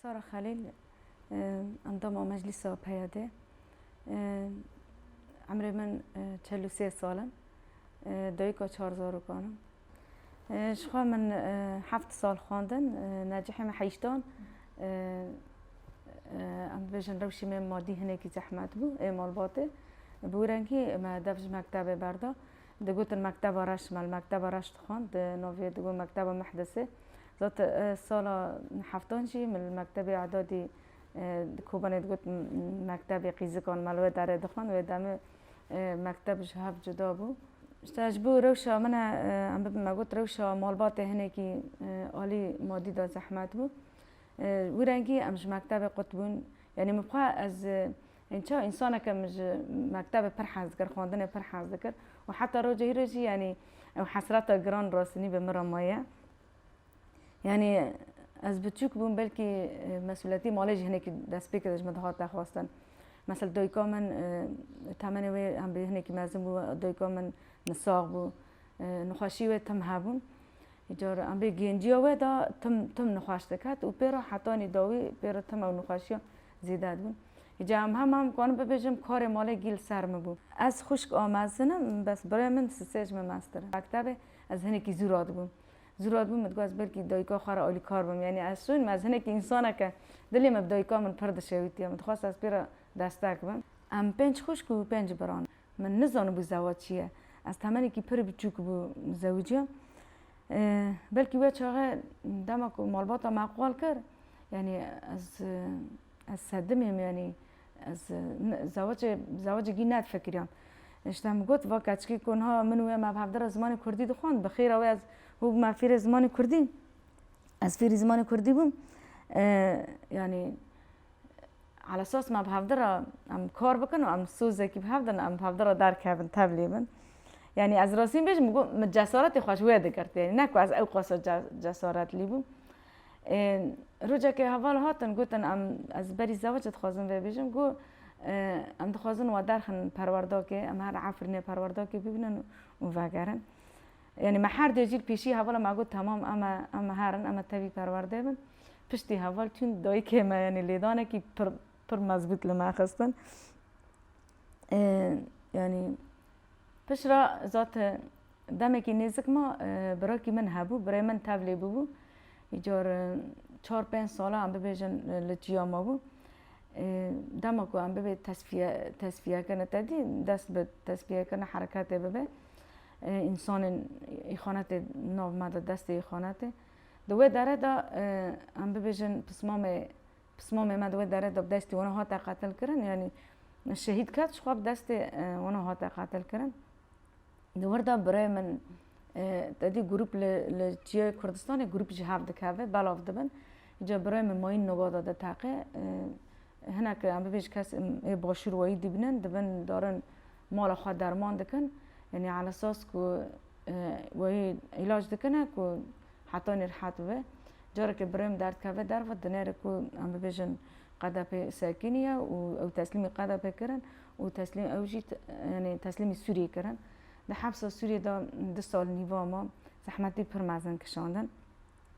Sara Xelîl, endama Meclîsa PYD'ê, Emrê min çel û sê sal in. Dayika çar zarokan im. Jixwe min heft sal xwendin. Necihê min heyştan. Em dibêjin rewşê me madî hinekî zehmet bû ê malbatê. Bi wrengî me dev ji mektebê berda. digotin Mekteba Reş me li Mekteba Reş dixwend di navê digot Mekteba Mehdesê zat sala heftan jî min li Mektebê Edadî di Kobanê digot Mektebê Qîzikan me li wê derê dixwend wê demê mekteb ji hev cuda bû. Îşte ji bo rewşa min e em bibin me got rewşa malbatê hinekî alî madî de zehmet bû wî rengî em ji mektebê qut bûn yanî min xwe ez Hin çawa însaneke min ji mektebê pir hez dikir, xwendinê pir hez dikir û heta roja hîrê jî yanî ew hesreta giran rastinî bi min re maye. Yanî ez biçûk bûm belkî mesûliyetî malê jî hinekî destpê kir ji min dihate xwestin. Mesela dayika min temenê wê em bi hinekî mezin bû, dayika min nisax bû, nixweşî wê tim hebûn. Cara em rê genciya we da tim tim nixweş diket û pê re hetanî dawî pê re tim ew nixweşiya zêde dibûn. Îcar em hema em karin bibêjim karê malê gî li ser min bû. Ez xwişk a mezin im, bes birayê min Sisê ji min meztir in. Mektebê ez hinekî zû radibûm. Zû radibûm min digot ez belkî dayika xwe re alîkar bim. Yanî ez şûn me, ez hinekî însanek e. Dilê min bi dayika min pir dişewitiye. Min dixwest ez pê re destek bim. Em pênc xwişk û pênc bira ne. Min nizanibû zewac çi ye. Ez temenekî pir biçûk bû zewiciya. Belkî wê çaxê dema ku malbata me qal kir, yanî ez ez sedimê me yanî ez zewacê zewacê gî nedifikiriya. Îşte min got va keçikê ku niha min û wê me bi hevdira zimanê kurdî dixwend, bi xêra wê ez hû bûme fêrê zimanê kurdî. Ez fêrî zimanê kurdî bûm. Yanî Ala esas me bi hevdî re em kar bikin û em sozekî bi hev din em bi hevdî re derkevin tevlî bin. Yanî ez rastî bêjim min got min cesaretê xwe ji wê digirt yanî ne ku ez ew qasa cesaretlî bûm. Rojekê heval hatin gotin em ez berî zewicê dixwazim vê bêjim got em dixwazin we derxin perwerdakê em her Efrînê perwerdakê bibînin û vegerin. Yanî me her dê jî li pêşî hevala me got temam em e em e herin em e tevî perwerdê bin. Piştî heval çûn dayikê me yanî lêdanekî pir pir mezbût li me xistin. Yanî pişra zat demekî nêzik ma birakî min hebû, birê min tevlê bûbû. Îcar çar pênc sala em bibêjin li çiya ma bû. Dema ku em bibê tesfiye tesfiyekirine tedî dest bi tesfiyekirine hereketê bibe. Însanên îxanetê nav me de destê îxanetê. Di wê dere de em bibêjin pismamê pismamê me di wê dere de bi destê wan hate qetilkirin yanî şehîd ket ji xwe bi destê wan hate qetilkirin. Di wir de birê min tedî grûp li li Çiyayê Kurdistanê grûp ji hev dikeve belav dibin. Îca birê min mayîn nobada diteqe. Hinek em bibêjin kes ê başûr wayî dîbinin dibin darin mala xwe derman dikin yanî ala sas ku wê îlac dikine ku heta nê rihet bibe. Carekê birêm derdkeve derve di nêrê ku em bibêjin qedepê sekînî ye û ew teslîmî qedepê kirin û teslîm ew jî yanî teslîmî Sûriyê kirin. Di hepsa Sûriyê de du sal nîva ma zehmetî pir mezin kişandin.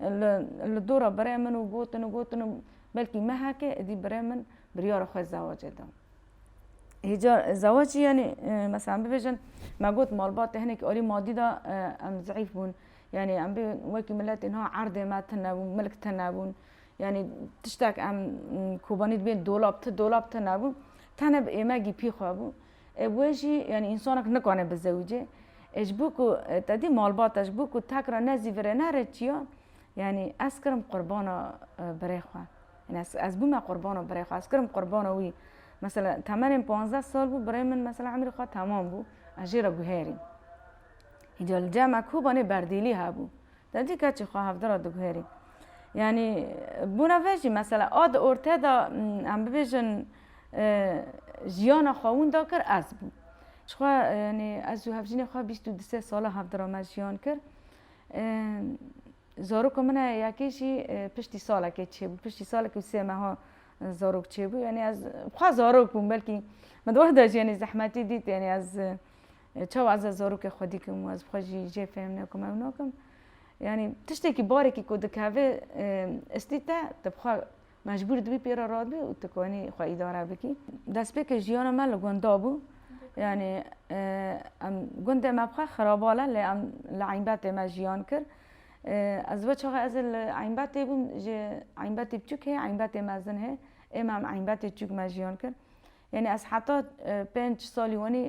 Li li dora birê min û gotin û gotin û belkî mehekê êdî birê min biryara xwe zewacê da. Hêja zewacî yanî meselan bibêjin me got malbatê hinekî alî madî da em zeîf bûn. Yanî em bê wekî miletê niha erdê me tune bû, milk tune bûn. Yanî tiştek em kobanî dibên dolab, ti dolab tune bû. Tenê bi êmegî pî xwe bû. Ê wê jî yanî însanek nikane bizewicê. Ê ji bo ku te dî malbata ji bo ku tek re ne zî virê ne rê çiya yanî ez kirim qurbana birê xwe. Yanî ez ez bûme qurbana birê xwe ez kirim qurbana wî. Mesela temenên panzdeh sal bû birê min mesela emrî xwe temam bû ez jê re guherîm. Îca li cem e kobanê berdêlî hebû. Te cî keçî xwe hevdî re diguherî. Yanî bona ve jî mesela a di ortaya de em bibêjin jiyana xwe winda kir ez bûm. Jixwe yanî ez û hevjînê xwe bîst û du sê sala hevdî re me jiyan kir. Zaroka min heye yekê jî piştî salekê çêbû. Piştî salekê û sê meha zarok çêbû. Yanî ez xwe zarok bûm belkî min di wexta jî yanî zehmetî dît yanî ez Çawa ez a zarokê xwe dîkim û ez bi xwe jî jê fêm nekim ew nakim. Yanî tiştekî barekî ku dikeve istî te, tu bi xwe mecbûr dibî pê re radibî û tu konî xwe îdare bikî. Destpêkê jiyana me li gunda bû. Yanî em gundê me bi xwe xirabal e lê em li Eynbetê me jiyan kir. Ez we çaxê ez ê li Eynbetê bûm ji Eynbetê biçûk hê Eynbetê mezin hê. Ême em Eynbetê çûk me jiyan kir. Yanî ez heta pênc salî wenî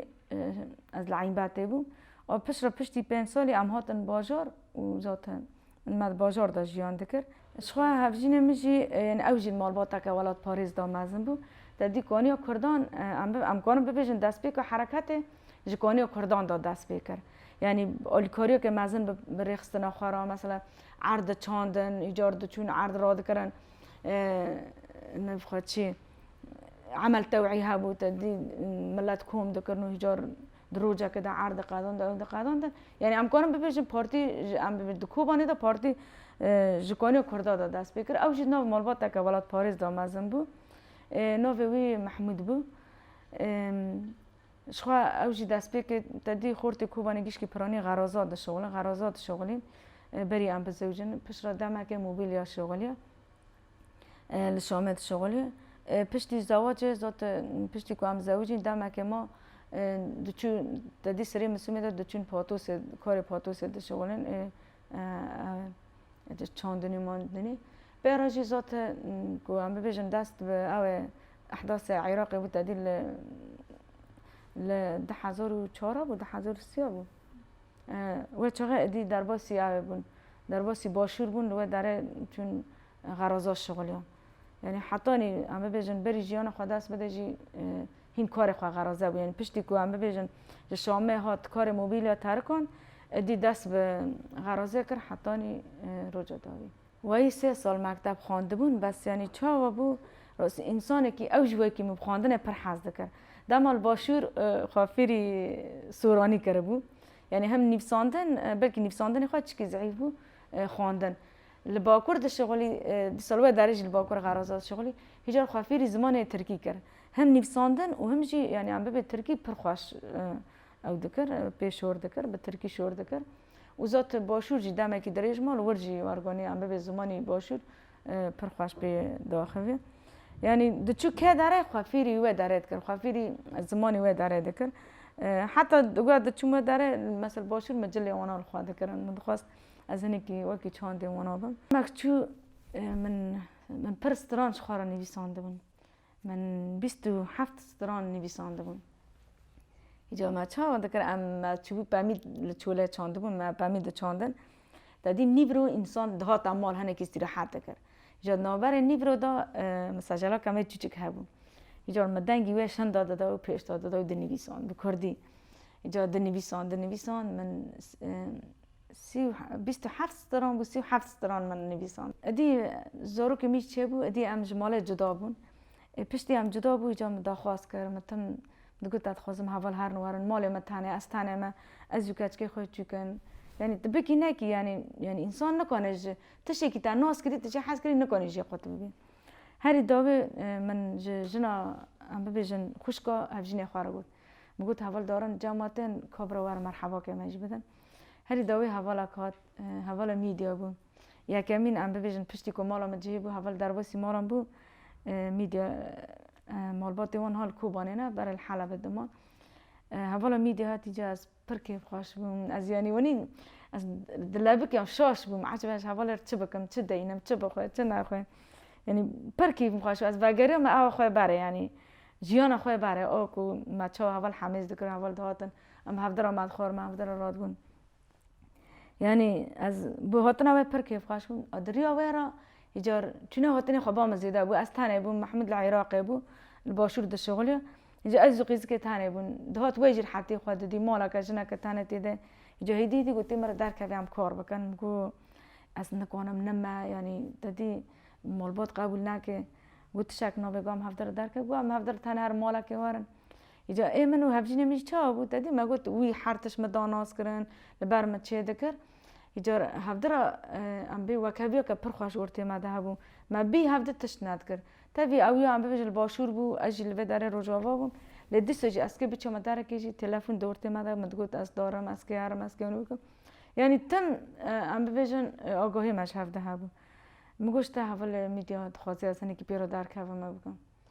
ez li Eynbetê bûm û pişt re piştî pênc salî em hatin bajar û zaten me di bajar de jiyan dikir. Jixwe hevjînê min jî yanî ew jî malbateke welatparêz da mezin bû. Te dît ku aniya kurdan em karin bibêjin destpêka hereketê ji ku aniya kurdan da dest pê kir. Yanî alîkariyeke mezin bi rêxistina xwe re mesela erd diçandin, îcar diçûn erd radikirin navê xwe çi ye. emel tewî hebû te dî milet kom dikirin û hîcar di rojekê de erd diqedand ew diqedand yanî em karin bibêjin partî ji em bibêjin di kobanê de partî ji kanê kurda de dest pê kir ew jî nav malbateke welatparêz de mezin bû navê wî mehmûd bû ji xwe ew jî dest pê kir te dî xortê kobanê gişkî piranî xeraza dişewilin xeraza dişewilîn berî em bizewicin piştre demekê mobîlya şewiliya li Şamê dişuxulî. Piştî zawacê zot piştî ku em zewicîn demekê ma diçû tedî sirê Misûmê de diçûn patosê karê patosê dişuxulin ê çandinî mandinî. Pê re jî zot ku em bibêjin dest bi ew ê ehdasê Iraqê bû tedî li li di hezar û çar a bû di hezar û sî a bû. We çaxê êdî derbasî yavê bûn, derbasî başûr bûn li we derê çûn xeraza şixuliyan. Yanî hetanî em bibêjin berî jiyana xwe dest bide jî hîn karê xwe xeraze bû. Yanî piştî ku em bibêjin ji Şamê hat karê mobîlya terikan êdî dest bi xerazê kir hetanî roja dawî. Wayî sê sal mekteb xwendibûn bes yanî çawa bû însanekî ew ji wekî min bi xwendinê pir hez dikir. Dema li başûr xwe fêrî soranî kiribû. Yanî hem nivîsandin belkî nivîsandinê xwe çikî zehîf bû xwendin. Li bakur dişixulî dîsal wê derê jî li bakur xeraza dişixulî. Hêjar xwe fêrî zimanê tirkî kir. Hem nivîsandin û hem jî yanî em bibê tirkî pir xweş Ew dikir, pê şor dikir, bi tirkî şor dikir û zot başûr jî demekî dirêj mal wir jî warganî an bibê zimanî başûr pir xweş pê diaxivî. Yanî diçû ke dere xwe fêrî wê dere dikir, xwe fêrî zimanî wê dere dikir. Heta digoya diçûm wê dere mesela başûr min cilê wana li xwe dikirin. Min dixwest ez hinekî wekî çandê wana bim. Demek çû min pir stran ji xwe re nivîsandibin. Min bîst û heft stran nivîsandibûn. Îcar me çawa dikir em me çûbû pemî li çolê çandibûn me pemî diçandin. De dî nîvro însan dihata mal hinekî îstîrehat dikir. Îcar di navberê nîvro de mesajala kemê çûçik hebû. Îcar me dengî wê şinda dida û pêşda dida û dinivîsand bi kurdî. Îcar dinivîsand dinivîsand min Sî û bîst û heft stran bû, sî û heft stran min nivîsand. Îdî zarokê min jî çêbû, îdî em ji malê cuda bûn. Ê piştî em cuda bû îcar min daxwaz kir, min tim digot ez dixwazim heval herin werin malê min tenê, ez tenê me, ez û keçikê xwe çûkin. Yanî tu bikî nekî yanî yanî însan nikane ji tiştekî te nas kirî tu jê hez kirî nikanî jê xwe tu bibî. Herî dawî min ji jina em bibêjin xwişka hevjînê xwe re got. Min got heval darin cama tên kabira werin merhebakê me jî bidin. Herî dawî hevala ku hat hevala mîdya bû. Yekemîn em bibêjin piştî ku mala min cihê bû heval derbasî malan bû mîdya malbatê wan ha li Kobanê ne berê li Helebê dima. Hevala mîdya hatî cih ez pir kêfxweş bûm. Ez yanî wenî ez dilebik ya şaş bûm ecbe ji hevalê re çi bikim, çi deynim, çi bixwe, çi nexwe. Yanî pir kêfim xweş bû. Ez vegeriya me awa xwe berê yanî jiyana xwe berê. O ku me çawa heval hemêz dikirin heval dihatin. Em hevdira me dixwar, me hevdira radibûn. Yanî ez bi hatina wê pir kêfxweş bûm. A di riya wê re yê car çûna hatinê xwe ba min zêde bû. Ez tenê bûm, Mehmûd li Iraqê bû, li başûr dişixuliya. Îcar ez û qîzikê tenê bûn. Dihat wê jî rehetî xwe didî, maleke, jineke tenê tê de. Îcar hêdî hêdî gotî min re derkevê em kar bikin. Min got ez nikanim nime, yanî te dî malbat qebûl nake. Got tişek nabe, got em hevdira derkevin. Got em hevdira tenê herim malekê werin. Îcar ê min û hevjînê min jî çawa bû? Te dî me got wî her tişt min da nas kirin, li ber min çê dikir. Îcar hevdira em bê wekhevîya ke pir xweş ortê me de hebû. Me bî hev di tişt nedikir. Tevî ew ya em bibêjin li başûr bû, ez jî li vê derê rojava bûm. Lê dîsa jî ez kê biçama derekê jî telefon di ortê me de min digot ez darim, ez kê herim, ez kê hunu bikim. Yanî tim em bibêjin agahiyê me ji hev de hebû. Min got ji te hevalê mîdya dixwazê ez hinekî pê re derkevim me bikim.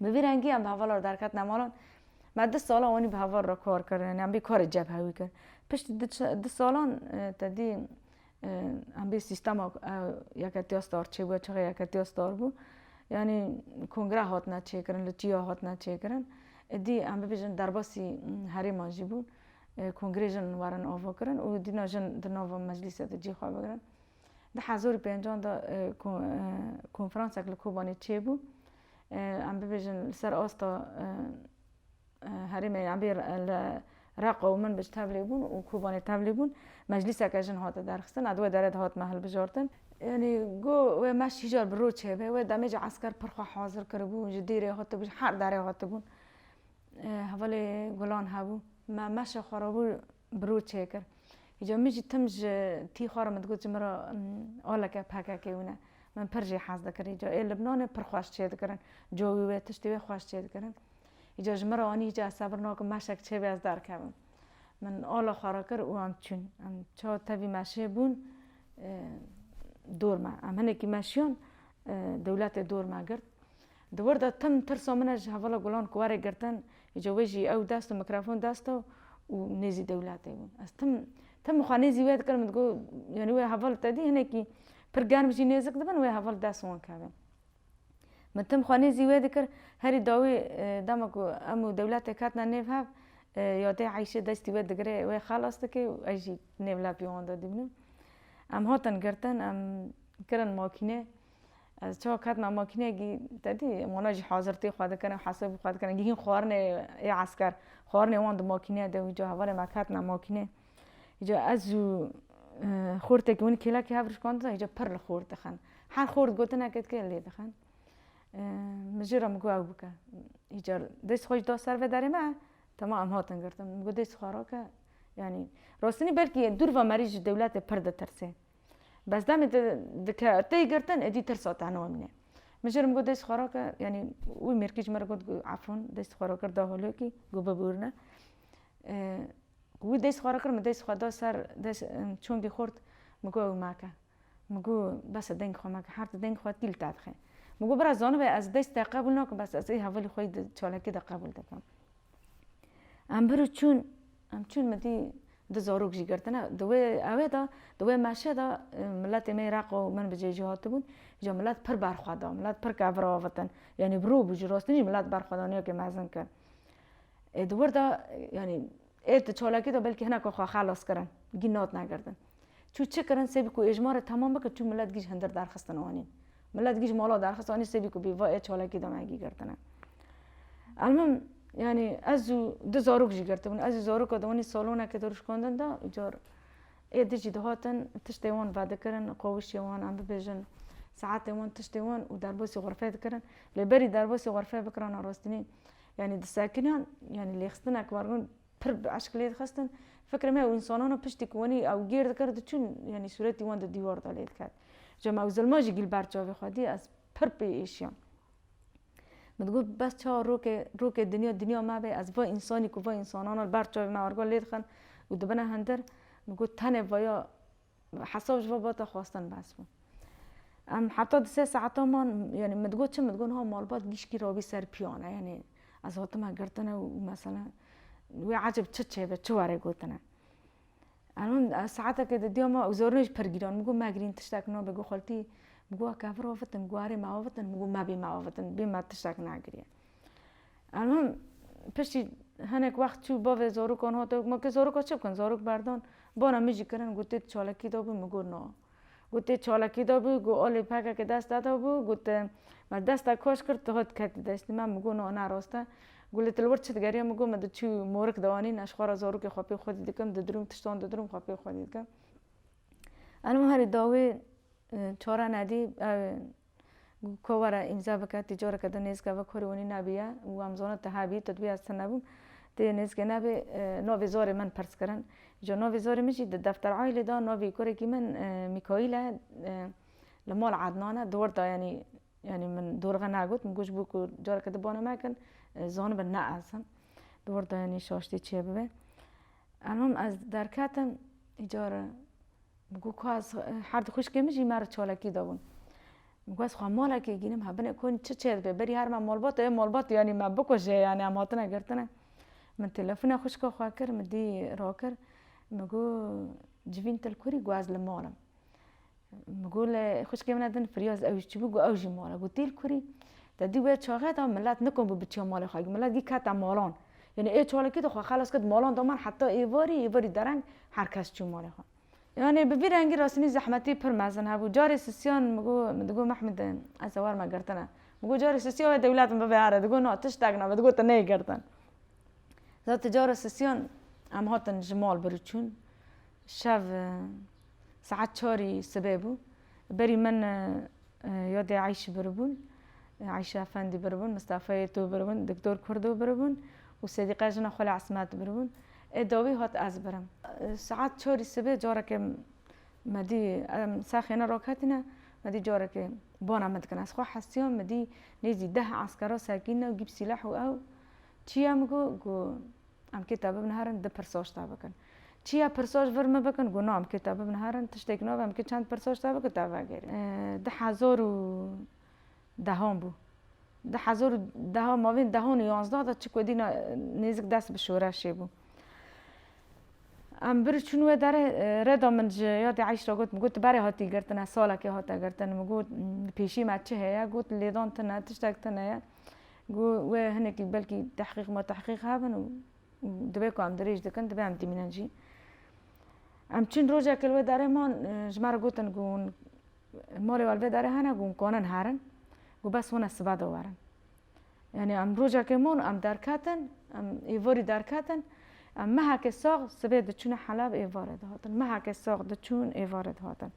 Bi vî rengî em bi hevala re derketina malan. Me du salan wanî bi heval re kar kir yanî em bî karê cebhe wî kir. Piştî du salan tedî em bî sîstema yeketiya star çêbûye çaxê yeketiya star bû. Yanî kongre hatine çêkirin li çiya hatine çêkirin. Êdî em bibêjin derbasî herêman jî bûn. Kongrê jin werin avakirin û dîna jin di nava meclîsê de cî xwe bigirin. Di hezar û pêncan de ku konferansek li Kobanê çêbû em bibêjin li ser asta herêmê em bê li Reqa û Minbij tevlî bûn û Kobanê tevlî bûn. Meclîseke jin hate derxistin û di wê derê de hatime hilbijartin. Yanî go wê meşt hî car bi rû çêbe. Wê demê jî esker pir xwe hazir kiribû. Ji dîrê hatibû, ji her derê hatibûn. Hevalê gulan hebû. Me meşê xwe re bû bi rû çêkir. Îcar min jî tim ji tî xwe re min digot ji min re oleke pkk hûn e. Min pir jî hez dikir. Îcar ê Libnanê pir xweş çêdikirin. Cowî wê, tiştê wê xweş çêdikirin. Îcar ji min re anî îcar ez sebir nakim meşek çêbê ez derkevim. Min ola xwe re kir û em çûn. Em çawa tevî meşê bûn dor me. Em hinekî meşiyan dewletê dor me girt. Di wir de tim tirsa min e ji hevala Gulan ku warê girtin, îca wê jî ew dest û mikrofon dest e û nêzî dewletê bûn. Ez tim tim xwe nêzî wê dikirim, digot yanî wê heval te dî hinekî pir germ jî nêzik dibin wê heval dest wan keve. Min tim xwe nêzî wê dikir, herî dawî dema ku em û dewletê ketine nêv hev ya dê Eyşê destî wê digire wê xelas dike û ez jî nêv lepî wan de dîbinim. Em hatin girtin, em kirin makîne. Ez çawa ketina makîneyekî te dî wana jî hazirtî xwe dikirine hesabî xwe dikirine gihîn xwarinê ê esker xwarinê wan di makîneya de wî ca hevalên me ketina makînê îca ez û xortekî winî kêlekî hev rişkandina îca pir li xort dixin her xort gotinekê dike lê dixin min jê re min got ew bike îcar dest xwe jî da ser vê derê me tema em hatin girtin min got dest xwe rake yanî rostinî belkî dûr ve merî ji dewletê pir ditirsê Bes demê te dike tey girtin êdî tirsa te niwe min e. Min jê re min got dest xwe rake yanî wî mêrkî ji min re got efûn dest xwe rakir da holokî got bibûrne. Wî dest xwe rakir min dest xwe da ser çongê xort min got ew make. Min got bes e deng xwe meke her di deng xwe tîl te dixe. Min got bira zanibê ez dest te qebûl nakim bes ez ê hevalê xwe yê di çalakî de qebûl dikim. Em bir û çûn, em çûn min dî du zarok jî girtine. Di wê ewê de, di wê meşê de miletê me yê Req û min bi cê jî hatibûn. Îja milet pir berxwe da, milet pir ket vir avêtin. Yanî bi rû bû, ji rastî jî milet berxwedaniyekê mezin kir. Ê di wir de, yanî ê di çalakî de belkî hineka xwe xelas kirin, gîn natina girtin. Çû çi kirin sê bî ku ê ji ma re temam bikin çû milet gîj hindir derxistin anî. Milet gîj mala derxist anî sê bî ku bî va ê çalakî de me gîgirtine. Elmim yanî ez û du zarok jî girtibûn. Ez û zaroka di wanî salonekê de rûşkandin de û car ê di jî dihatin tiştê wan vedikirin, qawişê wan em bibêjin saetê wan tiştê wan û derbasî xurfeyê dikirin. Lê berî derbasî xurfeyê bikirana rastînî yanî disekiniyan yanî lêxistineke wergirin Pir bi eşq lê dixistin. Fikirê me ew însanan e piştî ku wenî ew gêr dikir diçûn yanî sûretî wan di dîwar de lê diket. Ca me ew zilma jî gîlber çavê xwe dî ez pir pê êşiyam. Min digot bes çawa rokê rokê dinya dinya me bê ez va însanî ku va însanan e li ber çavê me argal lê dixin û dibine hindir min got tenê vaya Hesab ji babata xwestin behs bû. Em heta du sê saetan man yanî min digot çi min digot niha malbat gîşkî rabî ser piyane yanî ez hatime girtine û mesela wê ecêb çi çêbe çi were gotine. Em him saetekê di diya me û zorînê jî pir gîran min got megirîn tiştek nabe got xeltî min got kevir avitin min got erê me avitin min got mebî me avitin bî me tiştek negiriye. Em him piştî hinek wext çû bavê zarokan hate û ma kê zaroka çi bikin? Zarok berdan bana min jî kirin got tê di çalakî de bû min got na. Got tê çalakî de bû got alê pekekê deste de bû got me deste kaş kir tu hat ketî deştê me min got na ne rast e. Got lê tu li wir çi digeriya min got min di çû morik de anîn ez xwe re zarokê xwe pê xwedî dikim didirim tiştan didirim xwe pê xwedî dikim. Em him herî dawî çare nedî Ku were îmza bike tî coreke din nêzika vek hûrî hûnî nabiya û wan zona ti habî tu dibî ez ti nebûm ti nêzikê nabî novê zorê min pirs kirin îco novê zorê min jî di defter aîlê da novê kurekî min mîkaîl e li mol ednan e dor da yanî yanî min dorxe nagot min got bû ku coreke din bana me kin zanibin ne ez im dor da yanî şaştî çêbibe elmim ez derketim îcar Bû ku ez her du xwîşkên min jî me re çalakî dabûn. Bû ez xwe malekê gînim hebin e konî çi çê dibe berî her me malbat ê malbat yanî me bikuje yanî em hatine girtine. Min telefona xwişka xwe kir min dî rakir min got civîn til kurî got ez li mal im. Min got lê xwişkê min e din firyaz ew jî çibû got ew jî mal e. Got têl kurî te dî wê çaxê de milet nikon bû biçiya malê xwe milet dî kete malan. Yanî ê çalakî de xwe xelas kir di malan de man heta êvarî, êvarî dereng her kes çû malê xwe. Yanî bi vî rengî rastînî zehmetî pir mezin hebû. Carê sisiyan min got, min digot Mehmûd ez ê werme girtine. Min got carê sisiya wê dewlet min bibe here. Digot na tiştek nabe, digot tu neyê girtin. Zat carê sisiyan em hatin ji mal birû çûn. Şev. Saet çarî sibê bû. Berî min yadê Eyşî biribûn. Eyşî Efendî biribûn, Mistefa Yêto biribûn, Diktor Kurdo biribûn û Sedîqe jina xwe li Esmet biribûn. Ê dawî hat ez birim. Saet çarî sibê carekê me dî em sexêne raketîne, me dî carekê bana min dikine. Ez xwe hestiyam, me dî nêzî deh eskera sekîne û gîp sîleh û ew çi ye min got, got Em kê te bibin herin di pirsoç te bikin. Çiya pirsoç vir min bikin got no em kê te bibin herin tiştêk nave em kê çend pirsoç te bikin te vegerîn. Di hezar û dehan bû. Di hezar û dehan mavên dehan û yanzda de çi ku dîna nêzik dest bi şoreşê bû. Em bir çûn wê derê rêda min ji ya dê Eyşra got min got tu berê hatî girtin e salekê hate girtin min got pêşî me çi heye got lêdan tune tiştek tune ye. Got, wê hinekî belkî tehqîq ma tehqîq hebin û divê ku em dirêj dikin divê em tîmînin jî. Em çûn rojekê li wê darê man ji me re gotin ku hûn malê we li vê darê hene ku hûn kanin herin ku bes hûn ez sibe de werin. Yanî em rojekê man em derketin em êvarî derketin em mehekê sax sibê diçûne helab êvarê dihatin mehekê sax diçûn êvarê dihatin.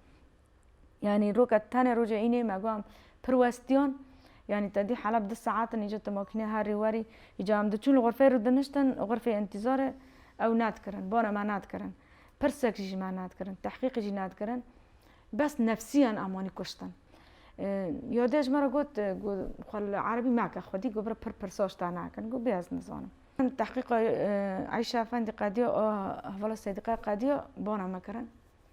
Yanî roka tenê roja înê me got pir westiyan. Yanî te dî Heleb du saet in îca tu makîne herî werî. Îca em diçûn li xurfeyê rû diniştin xurfê întîzarê ew nedikirin. Bana me nedikirin. Pirsek jî ji me nedikirin. Tehqîqî jî nedikirin. Bes nefsîyan em wanî kuştin. Yadê ji me re got ku xwe li erebî meke xwedî ku bira pir pirsa ji te nakin. Got bê ez nizanim. Tehqîqa Eyşa Efendî qediya a hevala Sêdîqaya qediya bana me kirin.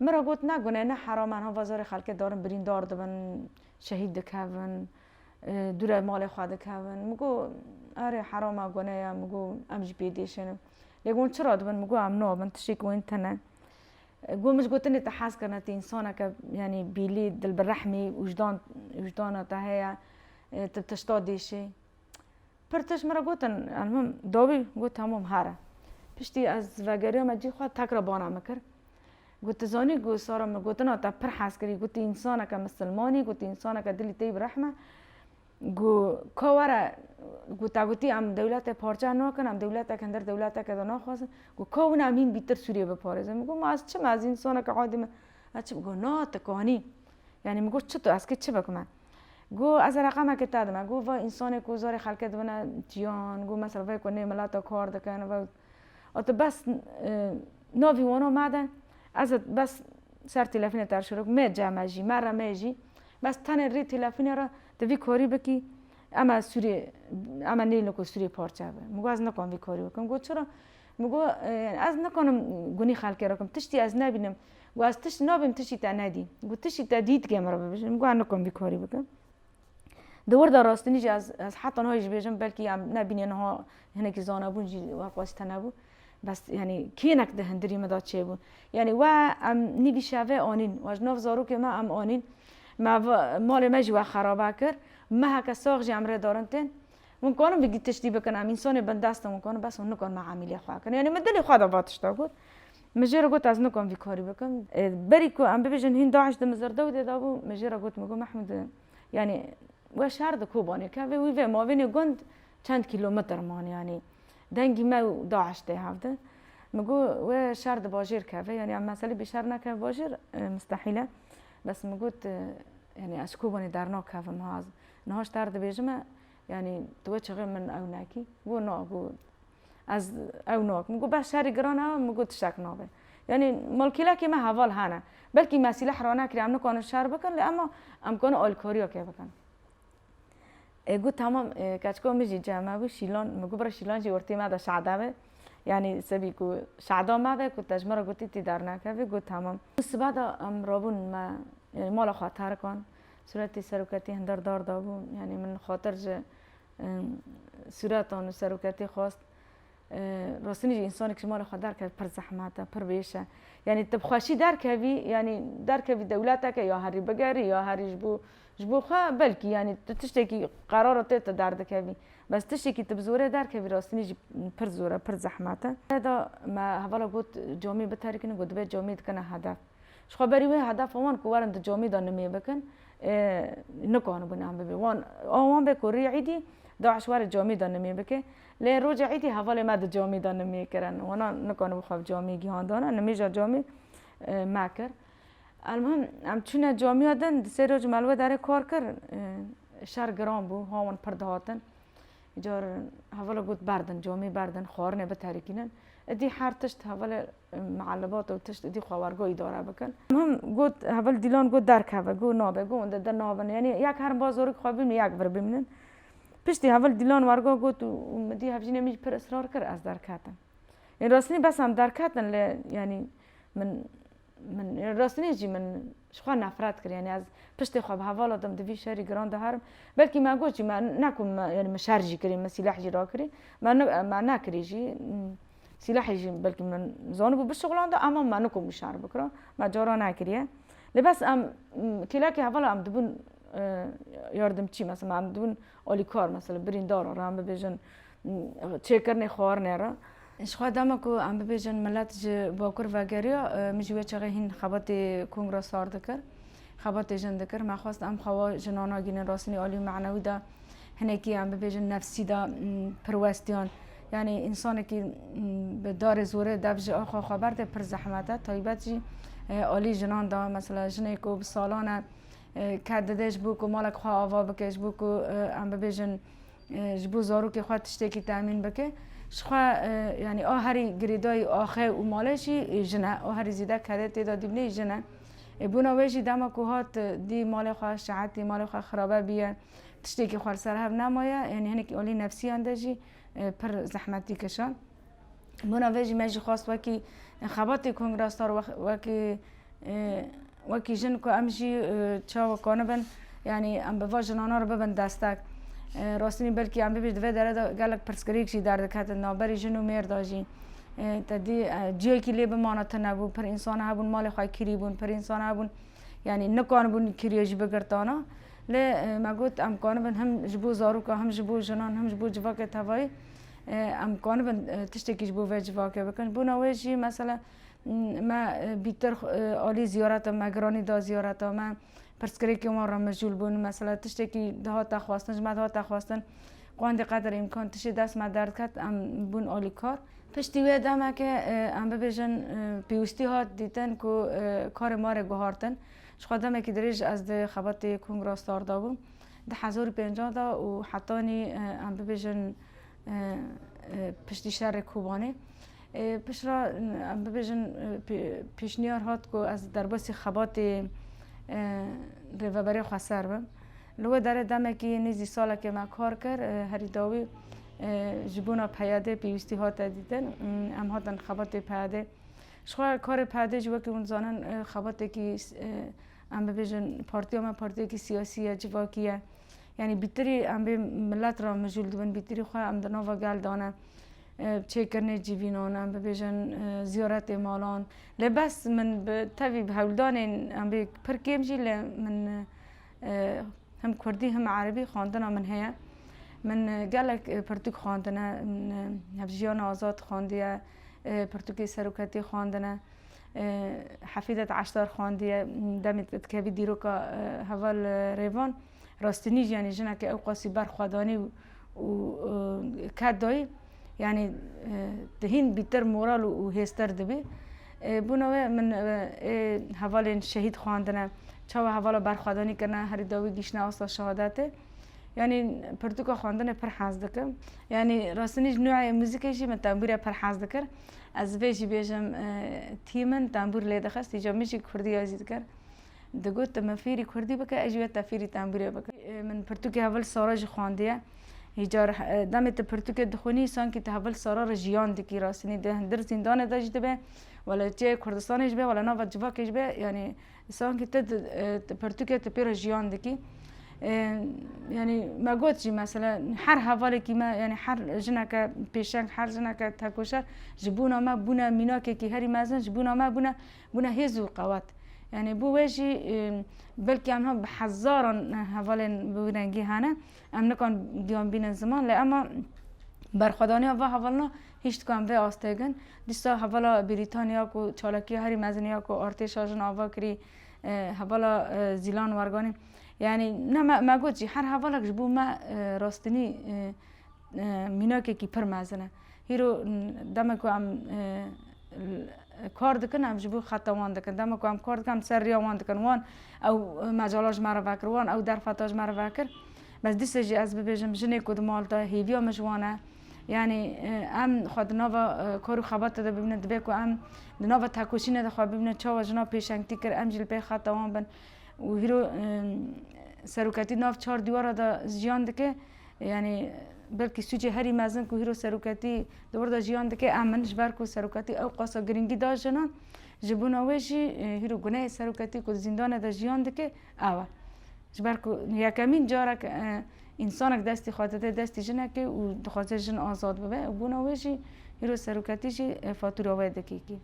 Min re got ne gune ne heram an hova zorê xelkê darin birîndar dibin şehîd dikevin dûre malê xwe dikevin min got erê heram a gune ya min got em jî pê dêşenin lê got çira dibin min got em nabin tiştêk wên tune got min ji gotinê te hez kirine tu însaneke yanî bîlî dil bi rehmî wijdan wijdana te heye tu tişta dêşî Pir tişt min re gotin Elmim dawî? Got hemûm here. Piştî ez vegeriya me cî xwe tekra bana min kir. Got tu zanî ku Sara min gotina te pir hez kirî gotî însaneke misilmanî gotî însaneke dilî teyî bi rehm e ku ka were ku te gotî em dewletê parçe nakin em dewletek hindir dewleteke de naxwazin ku ka wina em hîn bîtir Sûriyeyê biparêzin. Min got ma ez çi me ez însaneke adî me ez çi bikim? Got na tu kanî. Yanî min got çitu ez kê çi bikim e? Got, Ez e reqamekê te dime. Got, Vay însanê ku zarê xelkê dibine tiyan, got mesela vê ku nê milata kar dikin, vay a tu bes navî wana me de, ez ê bes ser tîlefînê te re şiro bikim, mê cem e jî, me re mê jî, bes tenê rê tîlefînê re tu vî karî bikî, em e sûrê, em e nêlin ku sûrê parçe be. Min got, Ez nikarim vî karî bikim. Got, Çira? Min got, Ez nikarim gunî xelkê re bikim, tiştî ez nebînim, Got ez tişt nabim tiştî te nedî. Got tiştî te dî dike min re bibêje. Min got ez nikom vî karî bikim. Di wirda rastinî jî ez ez heta niha jî bêjim belkî em nebînê niha hinekî zanebûn jî we qas tune bû. Bes yanî kênek di hindirî min de çêbû. Yanî we em nîvî şevê anîn. We ji nav zarokê me em anîn. Me malê me jî we xerabe kir. Meheke sax jî em rê darin tên. Hûn karin vî tiştî bikin em însanê bindest in hûn karin bes hûn nikarin me emîlê xwe kirin. Yanî min dilê xwe de va tişta got. Min jê re got ez nikom vî karî bikim. Berî ku em bibêjin hîn DAIŞ di Mizirdewdê de bû, min jê re got min got Mehmûd yanî we şer di Kobanê kevê wî vê mavênê gund çend kîlometr man yanî dengî me û DAIŞ tê hev de. Min got we şer di bajêr keve yanî em meselê bî şer nekeve bajêr mistehîl e. Bes min got yanî ez ji Kobanê dernakevim ha ez niha ji te re dibêjime yanî tu we çixê min ew nekî. Got na got Ez ew nakim. Min got bes şerî giran e, min got tiştek nabe. Yanî malkîlekê me heval hene. Belkî me sîleh rane kiriye, em nikarin şer bikin lê ema em karin alîkariya kê bikin. E got tamam e, keçika min jî cem hebû şîlan, min got bira şîlan jî ortê me de şada be. Yanî sebî ku şada me be ku te ji me re gotî tî dernakevî got tamam. Sibe de em rabûn me mala xwe terkan. Sûretê seroketî hindar dar dabû. Yanî min xatir ji Sûretan û seroketê xwest rastînî jî însanê kişî mala xwe derkeve pir zehmet e, pir wêş e. Yanî tu bi xweşî derkevî, yanî derkevî dewleteke ya herî bigerî ya herî ji bo ji bo xwe belkî yanî tu tiştekî qerara te tu derdikevî. Bes tiştekî tu bi zorê derkevî rastînî jî pir zor e, pir zehmet e. Reda me hevala got camê biterikînin got divê camê dikena hedef. Ji xwe berî wê hedefa wan ku werin di camî de nimê bikin nikanibû nem bibê. Wan a wan be ku rê îdî DAIŞ were camî de nimê bike. Lê roja îdî hevalê me di camî de nimê kirin. Wana nikanibû xwe bi camî gihandana. Nimê jî camî me kir. Elmuhim em çûne camiya din di sê roj me li wê derê kar kir. Şer giran bû. Hawan pir dihatin. Îcar hevala got berdin camî berdin xwarinê biterikînin. Îdî her tişt hevalê Mialibat û tişt êdî xwe wergo îdare bikin. Min got heval dîlan got derkeve got nabe got wende der nabin yanî yek herin ba zorik xwe bimînin yek vir bimînin. Piştî heval dîlan wergo got û min dî hevjînê min jî pir israr kir ez derketim. Yên rastînî bes em derketin lê yanî min min rastînî jî min Ji xwe nefret kir, yanî ez piştê xwe bi hevala dim di vî şerî giran de herim. Belkî me got jî, me ne ku yanî min şer jî kirî, min sîleh jî rakirî, me me nekirî jî. Sîlehê jî belkî min zanibû bişuxilanda ema me nikom wî şer bikira, me cara nekiriye. Lê bes em kêlekê hevala em dibûn yardimçî, mesela em dibûn Alîkar mesela birîndar re em bibêjin çêkirinê xwarinê re. Ji xwe dema ku em bibêjin milet ji bakur vegeriya min ji wê çaxê hîn xebatê kongra sar dikir. Xebatê jin dikir. Me xwest em xewa jinan nagihînin rastînî alî û manewî de hinekî em bibêjin nefsî de pirwestiyan. Yanî însanekî bi darê zorê dev ji axwe xwe berde pir zehmet e. Taybet jî alî jinan de mesela jinê ku bi salan e Ker dide ji bo ku malek xwe ava bike, ji bo ku em bibêjin ji bo zarokê xwe tiştekî temîn bike, ji xwe yanî a herî girêdayî axe û malê jî jin e. A herî zêde kedê tê de dîbinê jin e. Ê bona wê jî dema ku hat dî malê xwe şehetî malê xwe xirabe bîye, tiştekî xwe li ser hev nemaye, yanî hinekî alî nefsîyan de jî pir zehmetî kişand. Bona vê jî me jî xwest wekî xebatê Kongra Star wekî wekî jin ku em jî çawa konibin yanî em bi va jinana re bibin destek. Rastînî belkî em bibî di vê dere de gelek pirsgirêk jî derdiketin navberî jin û mêr de jî. Te dî ciyekî lê bimana tune bû. Pir însan hebûn malê xwe kirî bûn, pir însan hebûn yanî nikanibûn kiriyê jî bigirtana. Lê me got em konibin him ji bo zarokan him ji bo jinan him ji bo civakê tevayî Em kanibin tiştekî ji bo vê civakê bikin. Bona wê jî mesela me bîtir alî ziyareta me giranî da ziyareta me pirsgirêkên wan re mijûl bûn mesela tiştekî dihata xwestin ji me dihata xwestin qandî qeder îmkan tiştê dest me derdket em bûn alîkar. Piştî wê demeke em bibêjin pêwîstî hat dîtin ku karê me re guhartin. Jixwe demekî dirêj ez di xebatê kongra star de bûm. Di hezar û pêncan de û hetanî em bibêjin piştî şerê Kobanê piştre em bibêjin pêşniyar hat ku ez derbasî xebatê Rêveberê Xweser bim. Li wê derê demekî nêzî salekê me kar kir. Herî dawî ji bona PYD pêwîstî hate dîtin. Em hatin xebatê PYD. Jixwe karê PYD jî wekî hûn dizanin xebatekî Em bibêjin partiya me partiyekî siyasî ye, civakî ye. Yanî bîtirî em bê milet re mijûl dibin, bîtirî xwe em di nava gel de ne. Çêkirinê civînan, em bibêjin ziyaretê malan. Lê bes min bi tevî bi hewldanên em bê pir kêm jî lê min him kurdî him erebî xwendina min heye. Min gelek pirtûk xwendine, min Hevjîyana Azad xwendiye, pirtûkê Seroketiyê xwendine. Hefîzet Eşdar xwendiye demê te dikevî dîroka heval rêvan rastinî jî yanî jineke ewqasî ber xwe danî û ket dayî yanî tu hîn bîtir moral û hêztir dibî. Bûna we min ê hevalên şehîd xwendine çawa hevala berxwedanî kirine herî dawî gihîştine asta şehadetê yanî pirtûka xwendinê pir hez dikim. Yanî rastinî ji noyê muzîkê jî min tembûre pir hez dikir. Ez vê jî bêjim tî min tembûr lê dixist îca min jî kurdîya jî dikir. Digot tu min fêrî kurdî bike ez jî we te fêrî tembûrê bikim. Min pirtûkê hevil sara jî xwendiye. Îca demê tu pirtûkê dixwînî sankî tu hevil sara re jiyan dikî rastînî di hundir zîndanê de jî dibe wele çê Kurdistanê jî be wele nava civakê jî be yanî Sanki te di pertûkê te pê re jiyan dikî. Yani me got jî mesela her hevalekî me yani her jineke pêşeng her jineke tekoşer ji bûna me bûne mînakekî herî mezin ji bûna me bûne bûne hêz û qewet. Yani bû wê jî belkî em bi hezaran hevalên bi wî rengî hene em nikan giyan bînin ziman lê ema berxwedaniya va hevalina Hiştkan vê astegin dîsa hevala Brîtanya ku çalakiya herî mezin ya ku artêşa jin ava kirî hevala Zîlan Werganî yanî ne me me got jî her hevalek ji bo me rastinî mînakekî pir mezin e. Hîro demek ku em kar dikin em ji bo xeta wan dikin. Demek ku em kar dikin em li ser riya wan dikin. Wan ew mecala ji me re vekir, wan ew derfeta ji me re vekir. Bes dîsa jî ez bibêjim jinê ku di mal de hêviya min ji wan e. Yanî em xwe di nava kor û xebatê de bibînin dibe ku em di nava tekoşînê de xwe bibînin çawa jinan pêşengtî kir em jî li pey xeta wan bin û hîro seroketî nav çar dîwara de jiyan dike yanî belkî sûcê herî mezin ku hîro seroketî di wir de jiyan dike em in ji ber ku seroketî ewqasa girîngî da jinan ji bona wê jî hîro guneyê seroketî ku di zîndanê de jiyan dike Awe. Ji ber ku yekemîn carek însanek dest dixwaze dê destê jinekê û dixwaze jin azad bibe û bûna wê jî îro seroketî jî fatûra wê dikîkî.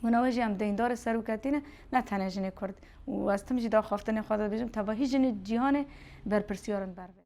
Bûna wê jî em deyndarê seroketî ne, ne tenê jinê kurd û ez tim jî di axaftinê xwe de dibêjim tevahî jinê cîhanê berpirsiyar in ber vê.